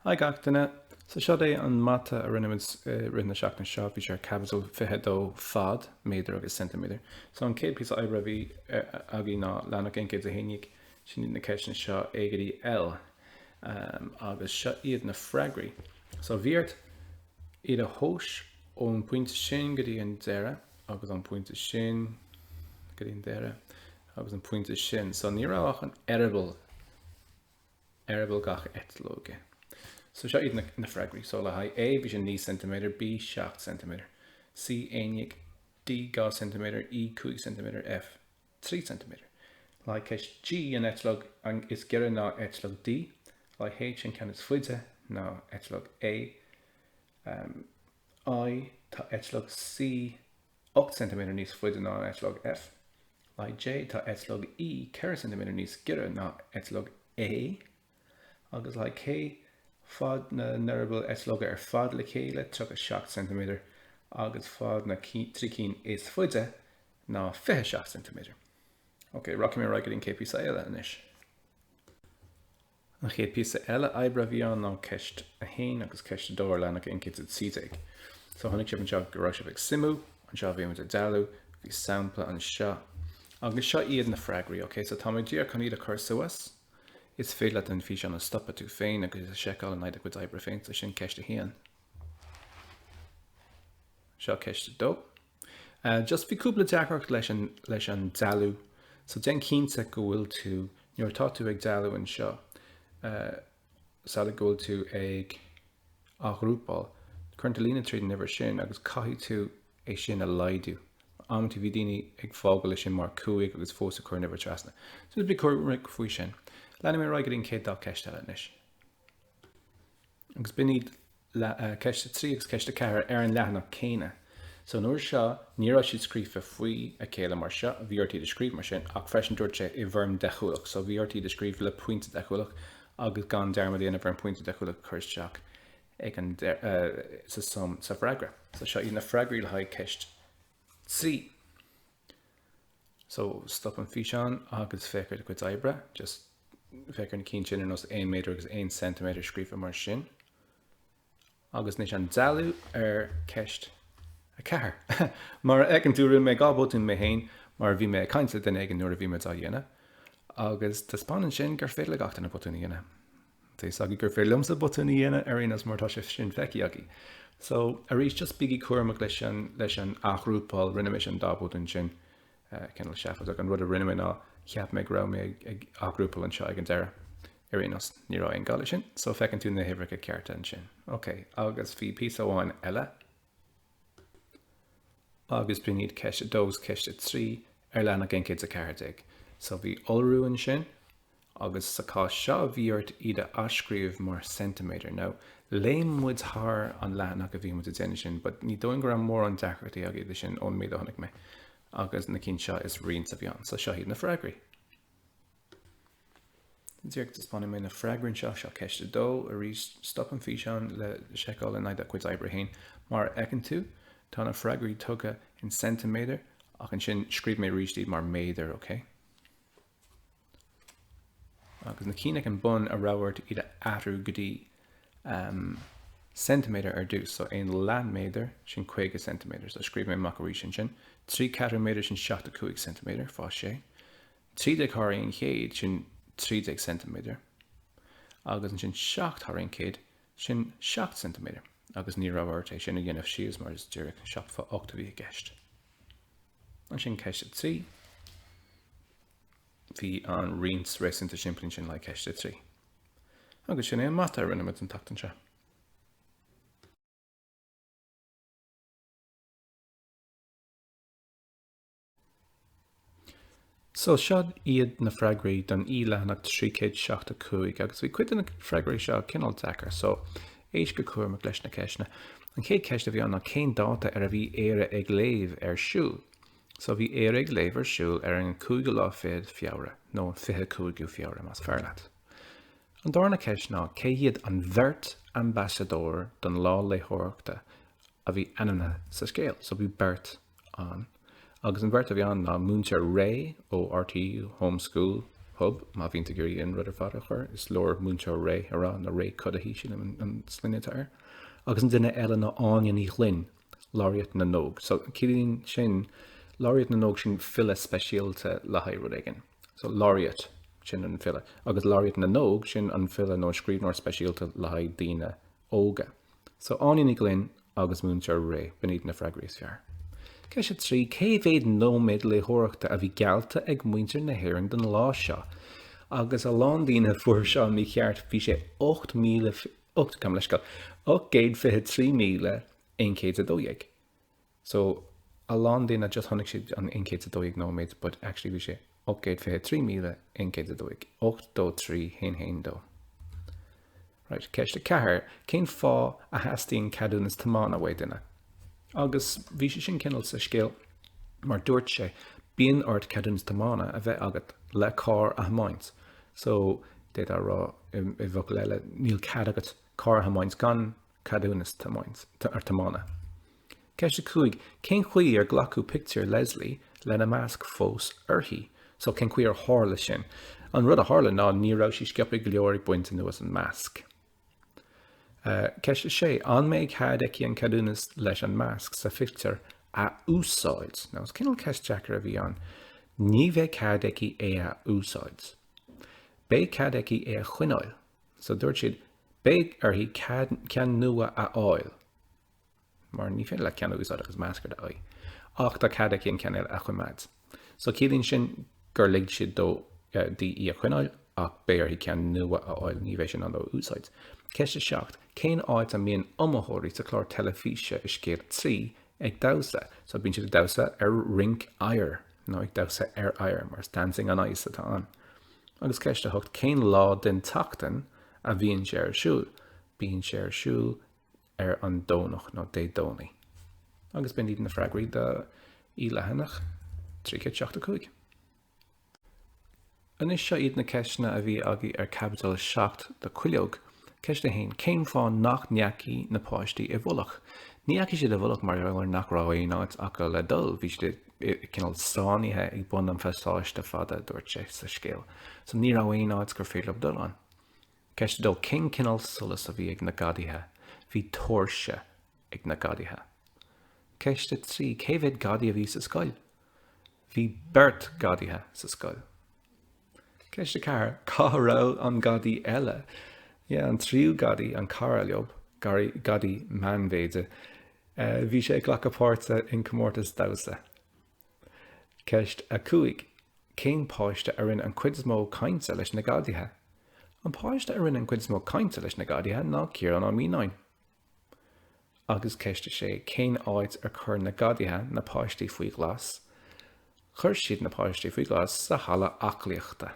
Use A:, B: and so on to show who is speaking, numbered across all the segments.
A: Hi gach duine. So seod é an mata a rinne muid i rith na seachtaine seo. Bhí sé ar Caibidil 22, Fad, Méadair agus Ceintiméadair. So an céad píosa oibre a bhí againn ná leathanach 111. Sin iad na ceisteanna seo A go dtí L. Agus seo iad na freagraí. So bhí ort iad a thomhas ón pointe sin go dtí an deireadh agus ón pointe sin go dtí an deireadh agus an pointe sin. So ní raibh ach an eireaball eireaball gach eitleoige. So seo iad na freagraí. So le haghaidh A, bhí sé 9 ceintiméadar, B, 7 ceintiméadar, C, 11, D, 2 ceintiméadar, E, 5 ceintiméadar, F, 3 ceintiméadar. Le haghaidh ceist G, an eitleog is giorra ná eitleog D, le haghaidh H, an ceann is faide ná eitleog A, um, I, tá eitleog C, 8 ceintiméadar níos faide ná an eitleog F. Le haghaidh J, tá eitleog E 4 ceintiméadar níos giorra ná eitleog A, agus le haghaidh K, fad na n-eireaball eitleoga ar fad le chéile 37 ceintiméadar, agus fad na dtrí cinn is faide ná 27 ceintiméadar. Ok, rachaidh mé ar aghaidh go dtí an céad píosa eile anois. An chéad píosa eile oibre a bhí ann ná Ceist 1 agus Ceist 2 ar leathanach 112. So chonaic sibh anseo go raibh sibh ag suimiú, anseo bhí muid ag dealú, bhí sampla anseo. Agus seo iad na freagraí, ok? So tá mé díreach chun iad a chur suas. Is féidir leat an físeán a stopadh tú féin agus iad a seiceáil in aghaidh do chuid oibre féin. So sin Ceist 1. Seo Ceist 2. Just bhí cúpla deacracht leis an leis an dealú so déan cinnte go bhfuil tú nuair atá tú ag dealú anseo sada go bhfuil tú ag athghrúpáil cuireann tú líne tríd an uimhir sin agus caithfidh tú é sin a laghdú mar amanta bhí daoine ag fágáil é sin mar 5 agus fós ag cur an uimhir trasna so just bí cúramach faoi sin. Leanfaidh mé ar aghaidh go dtí an chéad dá ceist eile anois. Agus b'in iad ceist a trí agus ceist a ceathair ar an leathanach céanna. So an uair seo ní raibh siad scríofa faoi a chéile mar seo, bhí ort iad a scríobh mar sin, ach freisin dúirt sé i bhfoirm deachúlach. So bhí ort iad a scríobh le pointe deachúlach agus gan dearmad a dhéanamh ar an pointe deachúlach a chur isteach ag an, sa, sa bhfreagra. So seo iad na freagraí le haghaidh ceist 3. So, stop an físeán agus féach ar do chuid oibre. Just féach ar na cinn sin ar nós 1 méadar agus 1 ceintiméadar scríofa mar sin. Agus anois an dealú ar ceist 4. Mar a fheiceann tú rinne mé dhá botún mé féin mar bhí mé ag caint le duine éigin nuair a bhí mé á dhéanamh. Agus taispeánann sin gur féidir le gach duine botún a dhéanamh. Tá's agaibh gur féidir liomsa botún a dhéanamh ar aon nós mar tá sé sin feicthe agaibh. So, arís, just bígí cúramach leis an, leis an athghrúpáil, rinne mé sin dá botún sin, uh, cineál seafadach, an rud a rinne mé ná, cheap mé go raibh mé ag, ag athghrúpáil anseo ag an deireadh. Ar aon nós, ní raibh aon gá leis sin, so feiceann tú na huimhreacha cearta ansin. OK, agus bhí píosa amháin eile. agus b'in iad ceist 2 is ceist 3 ar leathanach 114. So bhí iolrú ansin agus sa chás seo bhí ort iad a athscríobh mar ceintiméadar. Now léim muid thar an leathanach a bhí muid a' déanamh sin but ní dóigh liom go raibh mórán deacrachtaí agaibh leis sin ón méid a chonaic mé agus na cinn seo is roinnt a bhí ann. So seo iad na freagraí. Díreach taispeánfaidh mé na freagraí anseo. Seo ceist a dó. Arís, stop an físeán le seiceáil in aghaidh do chuid oibre féin. Mar a fheiceann tú, tá na freagraí tugtha in ceintiméadar ach ansin scríobh mé arís iad mar méadair, OK? Agus na cinn ag an bun, an raibh ort iad a athrú go dtí ceintiméadar ar dtús, so aon leath méadar sin caoga ceintiméadar, so scríobh mé amach arís ansin, trí ceathrú méadar sin seachtó cúig ceintiméadar, fá sé. Trí déag thar aon chéad sin trí déag ceintiméadar, agus ansin seacht thar aon chéad sin seacht ceintiméadar, agus ní raibh ort sin a dhéanamh síos mar is díreach seacht fá ocht a bhí i gceist. Ansin ceist a trí, bhí an roinnt réasúnta simplí ansin le ceist a trí. Agus sin é an mata a rinne muid an tseachtain seo. So seo iad na freagraí don E-Leathanach 375 agus bhí cuid de na freagraí seo cineál deacair so éist go cúramach leis na ceisteanna. An chéad cheist a bhí ann ná cén dáta ar a bhí Éire ag léamh ar siúl? So bhí Éire ag léamh ar siúl ar an cúigiú lá fichead Feabhra, nó an fiche cúigiú Feabhra más fearr leat. An dárna ceist ná cé hiad an bheirt ambasadóir don lá léitheoireachta a bhí ainmnithe sa scéal. So bhí beirt ann agus an bheirt a bhí ann ná Múinteoir Ray ó RTÉ Home School Hub, má bhíonn tú ag iarraidh an rud ar fad a chur is leor Múinteoir Ray a rá nó Ray Cuddihy, sílim an sloinne atá air, agus an duine eile ná Áine Ní Ghlinn. Laureate na nÓg. So ciallaíonn sin, Laureate na nÓg sin file speisialta le haghaidh rud éigin. So Laureate sin an file agus Laureate na nÓg sin an file nó scríbhneoir speisialta le haghaidh daoine óga. So Áine Ní Ghlinn agus Múinteoir Ray, b'in iad na freagraí is fearr. Ceist 3, cé mhéad nóiméad léitheoireachta a bhí geallta ag muintir na hÉireann don lá seo? Agus a lán daoine a fuair seo mícheart, bhí sé 8,000 ó gabh mo leithscéal, ocht gcéad fiche trí míle aon chéad 's a dó dhéag so a lán daoine just chonaic siad an aon chéad 's a dó dhéag nóiméad but actually bhí sé ocht gcéad fiche trí míle aon chéad 's a dó dhéag ocht dó trí haon haon dó right ceist a ceathair cén fáth a theastaíonn ceadúnas tiomána uaidh duine agus bhí sé sin cineál sa scéal mar dúirt sé bíonn ort ceadúnas tiomána a bheith agat le carr a thiomáint So, d'fhéadfá a rá, i bhfocail eile, níl cead agat carr a thiomáint gan ceadúnas tiomána. Ceist 5, Cén chaoi ar glacadh pictiúr Leslie lena masc fós uirthi? So, cén chaoi ar tharla sin? An rud a tharla ná ní raibh sí sciobtha go leor ag baint anuas an masc. Ceist 6, An mbeidh cead aici an ceadúnas leis an masc sa phictiúr a úsáid? Now, is cineál ceist deacair a bhí ann. Ní bheidh cead aici é a úsáid. Beidh cead aici é a choinneáil. So dúirt siad, beidh uirthi ceann nua a fháil. mar ní féidir leat ceann a úsáid agus masc ar d'aghaidh. Ach tá cead aici an ceann eile a choimeád. So ciallaíonn sin gur lig siad dó di í a choinneáil ach beidh uirthi ceann nua a fháil, ní bheidh sí in ann é a úsáid. Ceist 7, Cén áit a mbíonn iomaitheoirí sa chlár teilifíse i Scéal 3 ag damhsa? So bíonn siad ag damhsa ar rinc oighir nó ag damhsa ar oighear mar is Dancing on Ice atá ann. Agus ceist 8, Cén lá den tseachtain a bhíonn sé ar siúl? Bíonn sé ar siúl ar an Domhnach nó Dé Domhnaigh agus b'in iad na freagraí do leathanach 375. Anois seo iad na ceisteanna a bhí agaí ar Caibidil 7 do Cuileog. Ceist 1, Cén fáth nach ndeachaigh na páistí i bhfolach? Ní dheachaigh siad i bhfolach mar gheall ar nach raibh aon áit acu le dul. Bhí siad cineál sáinnithe ag bun an phasáiste fada, dúirt sé sa scéal. So ní raibh aon áit gur féidir leob dul ann. Ceist 2 Cén cineál solais a bhí ag na gadaithe? Bhí tóirse ag na gadaithe. Ceist 3 Cé mhéid gadaí a bhí sa scoil? Bhí beirt gadaithe sa scoil. Ceist 4 Cá raibh an gadaí eile? Yeah, an tríú gadaí, an cara leob, gary, gadaí meánmhéide, eh, bhí sé ag glacadh páirte i gcomórtas damhsa. Ceist 5. Cén páiste a rinne an cuid is mó cainte leis na gadaithe? An páiste a rinne an cuid is mó cainte leis na gadaithe ná Ciarán Ó Mianáin. Agus ceist 6. Cén áit ar chuir na gadaithe na páistí faoi ghlas? Chuir siad na páistí faoi ghlas sa halla aclaíochta.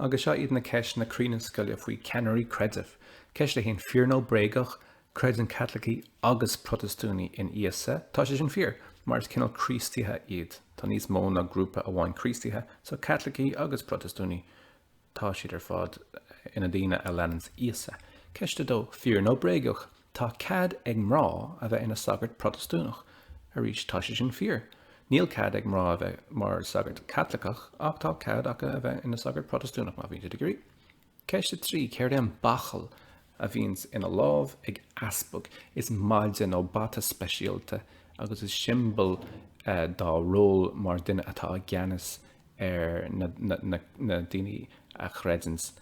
A: Agus seo iad na ceisteanna cruinne scoile faoi cheannairí creidimh. Ceist a haon, fíor nó bréagach, creideann Caitlicigh agus Protastúnaigh in Íosa. Tá sé sin fíor, mar is cineál Críostaithe iad. Tá níos mó ná grúpa amháin Críostaithe, tá Caitlicigh agus Protastúnaigh. Tá siad ar fad ina daoine a leananns Íosa. Ceist a dó, fíor nó bréagach, tá cead ag mná a bheith ina sagart Protastúnach? Arís, tá sé sin fíor. Níl cead ag mná a bheith mar sagart Caitliceach, ach tá cead acu a bheith ina sagart Protastúnach, má bhíonn siad ag iarraidh. Ceist a trí, céard é an bachall a bhíonns ina lámh ag easpag is maide nó bata speisialta agus is siombail dá ról mar duine atá i gceannas ar na daoine a chreideanns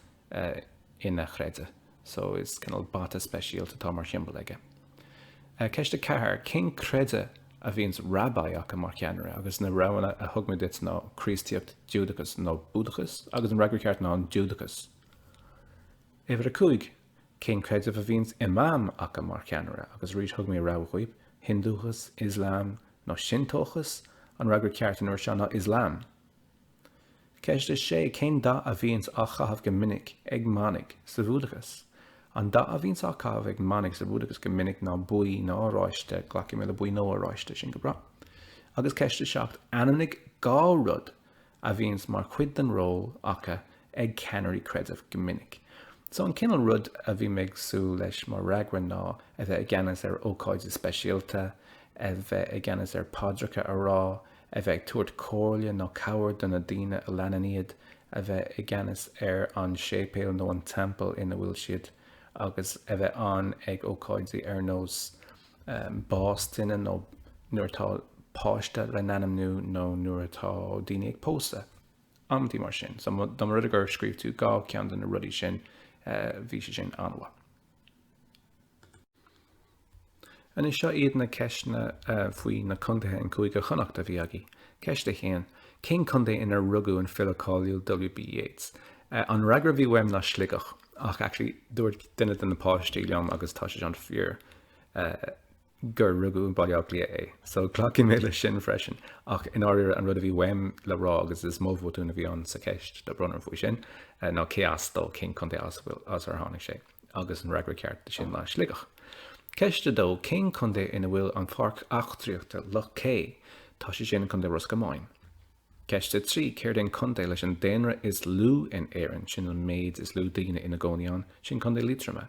A: ina chreideamh. So is cineál bata speisialta atá mar shiombail aige. Ceist a ceathair, cén creideamh a bhíonns Rabbi acu mar cheannaire agus na roghanna a thug mé duit ná Críostaíocht, Giúdachas nó Búdachas agus an fhreagra ceart ná an Giúdachas. Uimhir a cúig, cén creideamh a bhíonns Imam aca mar cheannaire? Agus arís thug mé rogha dhaoibh, Hindúchas, Islam nó Sinteochas? An fhreagra ceart an uair seo ná Islam. Ceist a sé, cén dath a bhíonns á chaitheamh go minic ag manaigh sa Bhúdachas? An dath a bhíonns á chaitheamh ag manaigh sa Bhúdachas go minic ná buí nó oráiste, glacfaidh mé le buí nó oráiste, sin go breá. Agus ceist a seacht, ainmnigh dhá rud a bhíonns mar chuid den ról aca ag ceannairí creidimh go minic. So an cineál rud a bhí mé ag súil leis mar fhreagra ná a bheith i gceannas ar ócáidí speisialta, a bheith i gceannas ar paidreacha a rá, a bheith ag tabhairt comhairle nó cabhair do na daoine a leanann iad, a bheith i gceannas ar an séipéal nó an teampall ina bhfuil siad agus a bheith ann ag ócáidí ar nós bás duine nó nuair atá páiste lena ainmniú nó nuair atá daoine ag pósadh, amantaí mar sin. So dá mba rud é gur scríobh tú dhá cheann de na rudaí sin, bhí sé sin an-mhaith. Anois seo iad na ceisteanna faoi na contaetha i gCúige Chonnacht a bhí againn. Ceist a haon, Cén contae inar rugadh an file cáiliúil W.B. Yeats? An fhreagra a bhí uaim ná Sligeach. Ach actually dúirt duine de na páistí liom agus tá sé an-fhíor gur rugadh i mBaile Átha Cliath é. So glacfaidh mé leis sin freisin. Ach i ndáiríre an rud a bhí uaim le rá agus is mo bhotún a bhí ann sa cheist tá brón orm faoi sin ná cé as dó cén contae as as ar tháinig sé. Agus an fhreagra ceart do sin ná Sligeach. Ceist a dó, cén contae ina bhfuil an Pháirc Eachtraíochta Loch Cé? Tá sé sin i gContae Ros Comáin. Ceist 3, Céard é an contae leis an daonra is lú in Éirinn, sin an méid is lú daoine ina gcónaí ann? Sin Contae Liatroma.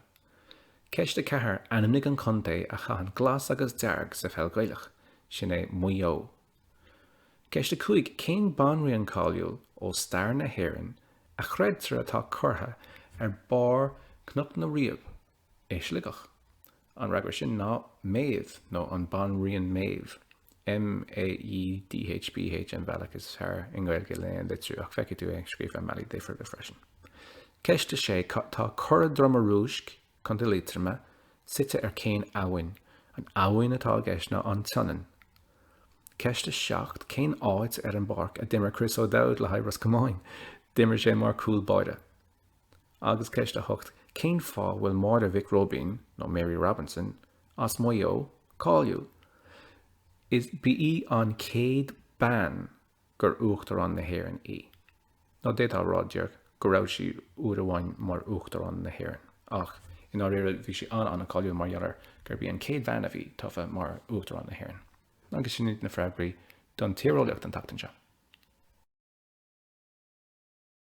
A: Ceist 4, Ainmnigh an contae a chaitheann glas agus dearg sa pheil Gaelach. Sin é Maigh Eo. Ceist 5, Cén banríon cáiliúil ó stair na hÉireann a chreidtear atá curtha ar barr Cnoc na Riabh i Sligeach. An fhreagra sin ná Méadhbh nó an Banríon Méadhbh, M-a-e-d-h-b-h an bhealach is fearr i nGaeilge lena litriú ach feicfidh tú é scríofa i mbealaí difriúla freisin. Ceist 6 Tá Cora Droma Rúisc, Co. Liatroma, suite ar cén abhainn? An abhainn atá i gceist ná An tSionainn. Ceist 7 Cén áit ar an bpáirc a d'imir Chris O'Dowd le haghaidh Ros Comáin? D'imir sé mar chúl báire. Agus ceist a hocht, cén fáth bhfuil Máire Mhic Róibín, nó Mary Robinson, as Maigh Eo cáiliúil? Is ba í an chéad bean gur Uachtarán na hÉireann í. Nó d'fhéadfá a rá, déarfainn, go raibh sí uair amháin mar Uachtarán na hÉireann. Ach i ndáiríre bhí sí an-an-cháiliúil mar gheall ar gurb í an chéad bean a bhí tofa mar Uachtarán na hÉireann. Agus sin iad na freagraí don tíreolaíocht an tseachtain seo.